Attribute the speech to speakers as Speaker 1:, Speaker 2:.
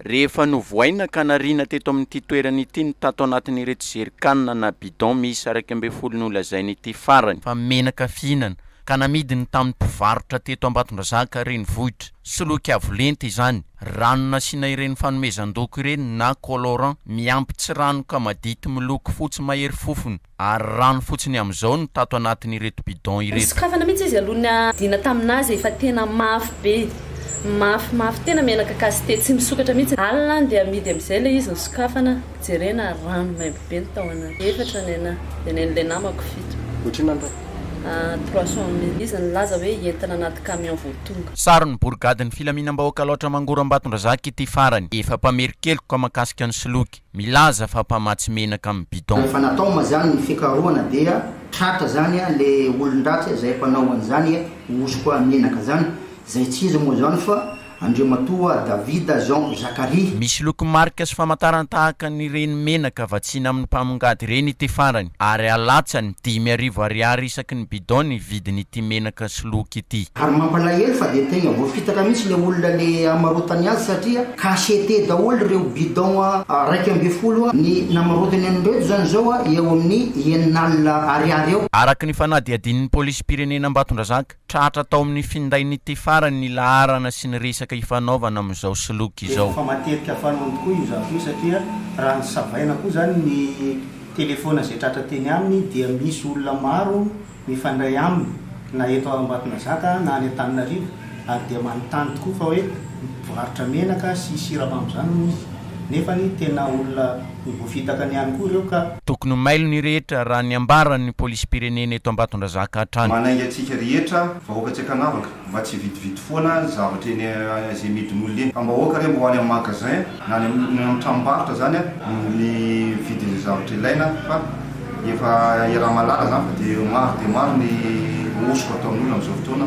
Speaker 1: Rehefa novohaina ka nariana teto amin'ity toerana ity ny tato anatin'ireto zerikanina na bidon miisa iraika ambin'ny folo nolazaina ity farany, fa menaka fihinana, ka namidiny tamin'ny mpivarotra teto Ambatondrazaka renivohitra, soloky avo lenta izany, rano nasiana ireny fanomezan-doko ireny na colorant miampy tsiranoka madity miloko fotsy mahery fofona. ary rano fotsiny amin'izao no tato anatin'ireto bidon ireto. Nosokafana mihitsy izy aloha
Speaker 2: niadiana tamin'azy efa tena mafy be mafy mafy tena menaka cassete tsy misokatra mihitsy alina dia amidy amin'izay ilay izy nosokafana jerena rano maimbo be ny tao anaty efatra ny anah dia nen'ilay namako fito Otrina an tana.
Speaker 3: Trois
Speaker 2: cent mille izy nilaza hoe entina anaty camion vao tonga. Saron'ny borigadin'ny
Speaker 1: filaminam-bahoaka Alaotra Mangorambatondrazaka ity farany, efa mpamerin-keloka mahakasika ny soloky. milaza fa mpamatsy menaka amin'ny bidon. Efa natao ma zany ny
Speaker 4: fikarohana dia tratra zany a le olondratsy a zay mpanao an'izany e hosoka a menaka zany zay tsy izy moa zany fa Andriamatoa David Jean Zakaria. Misy loko marika sy
Speaker 1: famantarana tahaka an'ireny menaka vatsiana amin'ny mpamongady ireny ity farany ary alatsany dimy arivo ariary isaky ny bidon ny vidin'ity menaka sy loky ity. Ary mampalahelo fa
Speaker 4: dia tegna voafitaka mihitsy le olona le hamarotany azy satria Cachette daholo ireo bidon iraika ambin'ny folo ny namarotany an'ireto izany izao eo amin'ny enina alina ariary eo. Araka ny fanadihadian'ny
Speaker 1: polisim-pirenena Ambatondrazaka, tratra tao amin'ny findain'ity farany ny laharana sy ny resaka ifanaovana amin'izao soloky izao. Efa matetika fanao
Speaker 3: tokoa io zavatra io satria raha ny savaina koa izany ny telefaona izay tratra teny aminy dia misy olona maro mifandray aminy na eto Ambatonazaka na any Antananarivo ary dia manontany tokoa fa hoe mpivarotra menaka sy siramamy izany hono izy nefa tena olona voafitakany ihany koa ireo ka Tokony ho mailo ny
Speaker 1: rehetra raha ny ambaran'ny polisim-pirenena eto Ambatondrazaka hatrany. Manainga antsika rehetra
Speaker 5: vahoaka tsy ankanavaka mba tsy hividividy foana zavatra eny izay amidin'olona eny. Fa mba aoka re mba ho any amin'ny magasin Na any amin'ny tranombarotra izany no vidin'ireo zavatra ilaina fa efa iaraha-mahalala izany fa dia maro dia maro ny hosoka ataon'olona amin'izao fotoana.